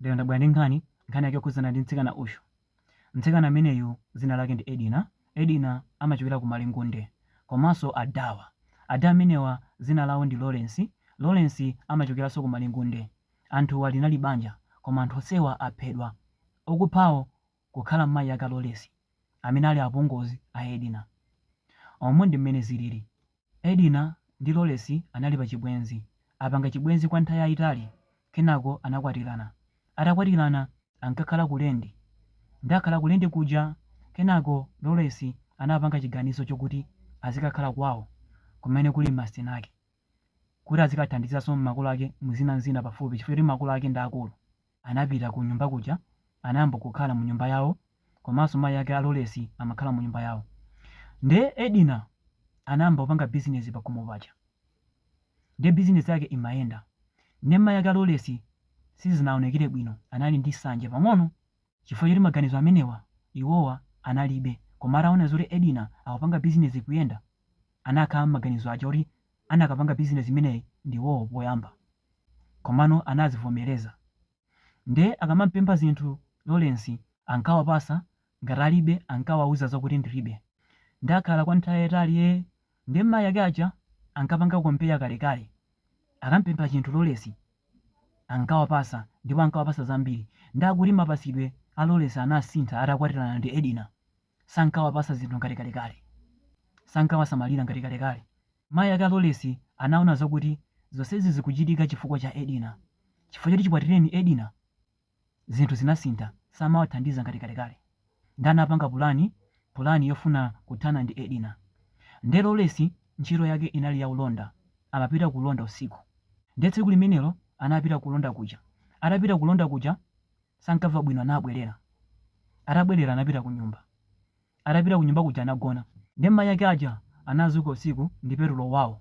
Lero ndabwera ndi nkhani, nkhani yake yokhudzana ndi mtsikana uyu. Mtsikana ameneyu dzina lake ndi Edina. Edina amachokera ku Malingunde komanso ada awa. Ada amenewa dzina lawo ndi Lawrence. Lawrence amachokeranso ku Malingunde. Anthuwa linali banja koma anthu onsewa aphedwa. Okuphawo kukhala mayi ake a Lawrence amene ali apongozi a Edina. Umu ndi mmene zilili. Edina ndi Lawrence anali pachibwenzi, apanga chibwenzi kwa nthawi yaitali kenako anakwatirana. Atakwatirana ankakhala ku lendi. Nde akhala ku lendi kuja, kenako Lawrence anapanga chiganizo chokuti azikakhala kwawo kumene kuli masiteni ake kuti azikathandizanso makolo ake mu zina n'zina pafupi chifukwa choti makolo ake ndi akulu. anapita ku nyumba kuja anayamba kukhala mu nyumba yawo komanso mayi ake a Lawrence amakhala mu nyumba yawo nde Edina anayamba kupanga business pakhomo paja nde business yake imayenda nde mayi ake a Lawrence sizinawonekere bwino anali ndi nsanje pang'ono chifukwa choti maganizo amenewa iwowa analibe koma ataona zoti Edina akupanga business ikuyenda anakhala maganizo aja oti anakapanga business imeneyi ndiwowo poyamba komano anazivomereza nde akamampempha zinthu Lawrence ankawapasa ngati alibe ankawauza zokuti ndilibe nde akhala kwa nthawi yayitali ee nde mayi ake aja ankapanga compare kalekale akampempha chinthu Lawrence ankawapasa ndipo ankawapasa zambiri nde akuti mapasidwe a Lawrence anasintha atakwatirana ndi Edina Sankawapatsa zinthu ngati kalekale. Sankawasamalira ngati kalekale. Mayi ake a Lawrence anaona zakuti zonsezi zikuchitika chifukwa cha Edina. Chifukwa choti chikwatireni Edina, zinthu zinasintha. Samawathandiza ngati kalekale. Ndiye anapanga pulani, pulani yofuna kuthana ndi Edina. Ndiye Lawrence ntchito yake inali ya ulonda. Amapita ku ulonda usiku. Ndiye tsiku limenelo anapita ku ulonda kuja. Atapita ku ulonda kuja, Sankamva bwino anabwerera. Atabwerera anapita kunyumba. Atapita kunyumba kuja anagona. Ndiye mayi ake aja anadzuka usiku ndi petulo wawo.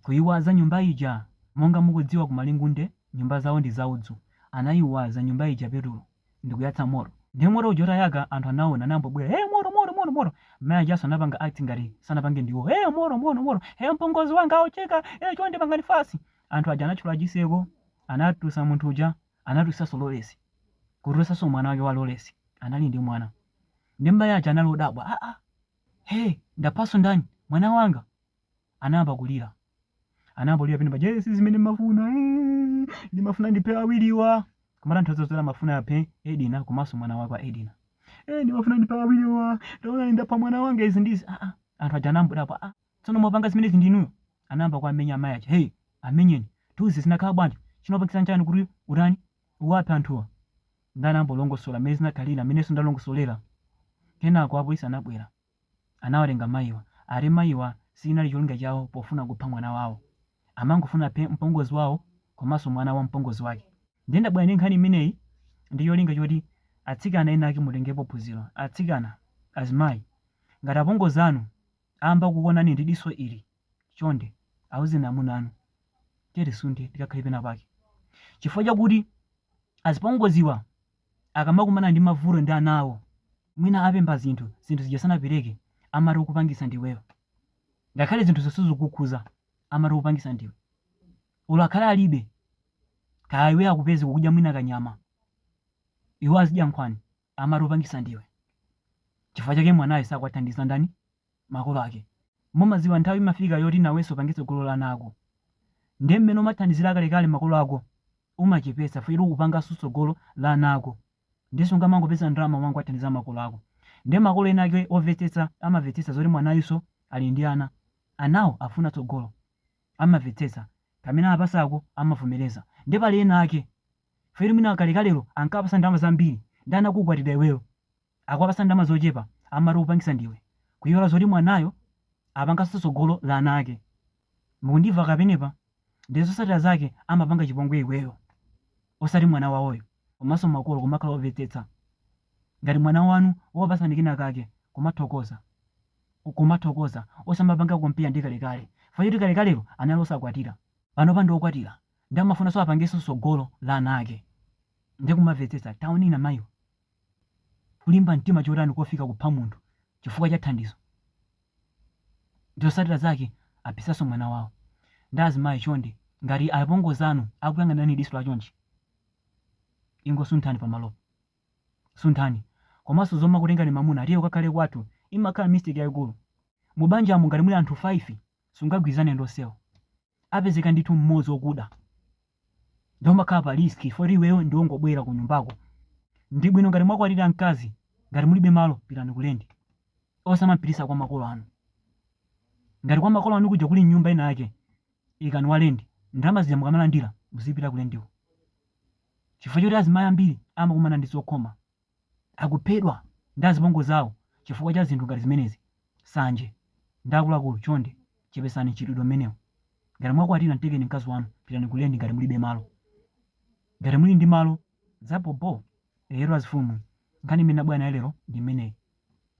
Kuyiwaza nyumba ija. Monga mukudziwa ku Malingunde nyumba zawo ndi za udzu. Anayiwaza nyumba ija petulo ndikuyatsa moto. Ndiye moto uja utayaka anthu anawona nayamba kubwera hey moto moto moto moto. Mayi ajanso anapanga act ngati sanapange ndiwo hey moto moto moto hey mpongozi wanga aotcheka hey chonde pangani fast. Anthu aja anathyola chiseko anatulutsa munthu uja. anatulutsanso Lawrence, kutulutsanso mwana wake wa Lawrence, anali ndi mwana. Nde mayi aja anali odabwa, aa, hee, ndaphanso ndani, mwana wanga? Anayamba kulira, anayamba kulira pene paja, ee, si zimene ndimafuna, ee, ndimafuna ndiphe awiriwa, kumatanthauza kuti amafuna aphe Edina komanso mwana wake wa Edina. Ee, ndimafuna ndiphe awiriwa, taonani ndapha mwana wanga izi ndizi, aa, anthu aja anangodabwa, aa. Tsono mwapanga zimenezi ndi inuyo? Anayamba kuwamenya amayi aja. Hey! Amenyeni. Tiuze zinakhala bwanji? Chinawapangitsa nchani kuti utani? Uwaphe anthuwa? Ndiye anayamba kulongosola mmene zinakhalira mmenenso ndalongosolera. Kenako apolisi anabwera. Anawatenga mayiwa. Ati mayiwa sichinali cholinga chawo pofuna kupha mwana wawo. Amangofuna aphe mpongozi wawo komanso mwana wa mpongozi wake. Ndiye ndabwera ndi nkhani imeneyi ndi cholinga choti atsikana ena ake mutengepo phunziro. Atsikana, azimayi, ngati apongozi anu Amba kukuonani ndi diso ili, chonde auzeni amuna anu tiye tisunthe tikakhale pena pake. Chifukwa chakuti azipongoziwa akamakumana ndi mavuto ndi ana awo, mwina apempha zinthu, zinthu zija sanapereke, amati ukupangitsa ndiweyo. Ngakhale zinthuzo sizikukukhudza, amati ukupangitsa ndiwe. Olo akhale alibe, kaya iweyo akupeze ukudya mwina kanyama, iwo azidya nkhwani. amati ukupangisa ndiwe chifukwa chake mwanayo sakuwathandiza ndani makolo ake mumaziwa nthawi imafika yoti naweso upange sogolo la ana ako nde mmene umathandizira kalekale makolo ako umachepesa chifukwa choti ukupangaso sogolo la ana ako ndeso sungamangopeza ndalama wangowathandiza makolo ako nde makolo ena ake ovetsetsa amavetsetsa zoti mwanayuso ali ndi ana anawo akufuna tsogolo amavetsetsa pamene apasako amavomereza nde pali ena ake Chifukwa mwina kalekalelo ankawapasa ndalama zambiri nde anakukwatira iweyo akuwapasa ndalama zochepa amati ukupangisa ndiwe kuyiwala zoti mwanayo apangaso tsogolo la ana ake mukundiva apapa ndiye zosatira zake amapanga chipongwe iweyo osati mwana wawoyo komaso makolo kumakhala ovetsetsa ngati mwana wanu wakupasani kenakake kumathokoza kumathokoza osamapanga compare ndi kalekale chifukwa choti kalekalelo anali osakwatira panopa ndi okwatira nde amafunanso apangeso sogolo la ana ake nde kumavetsetsa taonani mayiwa kulimba mtima chotani kofika kupha munthu chifukwa cha thandizo nde zosatira zake aphisaso mwana wawo nde azimayi chonde ngati apongozi anu akuyang'anani diso la chonchi ingosunthani pamalopo sunthani komaso zomakutengani mamuna tiye ukakhale kwathu imakhala mistake yaikulu mu banjamo ngati muli anthu 5 sungagwirizane ndi osewo apezeka ndithu mmodzi okuda nde umakhala pa risk chifukwa choti iweyo ndi ongobwera kunyumbako ndi bwino ngati mwakwatira mkazi ngati mulibe malo pitani ku lendi osamampitisa kwa makolo anu ngati kwa makolo anu kuja kuli nyumba ina yake ikani wa lendi ndalama zija mukamalandira muzipita ku lendiko chifukwa choti azimayi ambiri amakumana ndi zokhoma akuphedwa ndi azipongozi awo chifukwa cha zinthu ngati zimenezi sanje nde akuluakulu chonde chepesani mchitidwe umenewu ngati mwakwatira mtengeni mkazi wanu pitani ku lendi ngati mulibe malo ngati muli ndi malo zabhobho eyetu azifumu nkhani imene ndabwera nayo lero ndi imeneyi.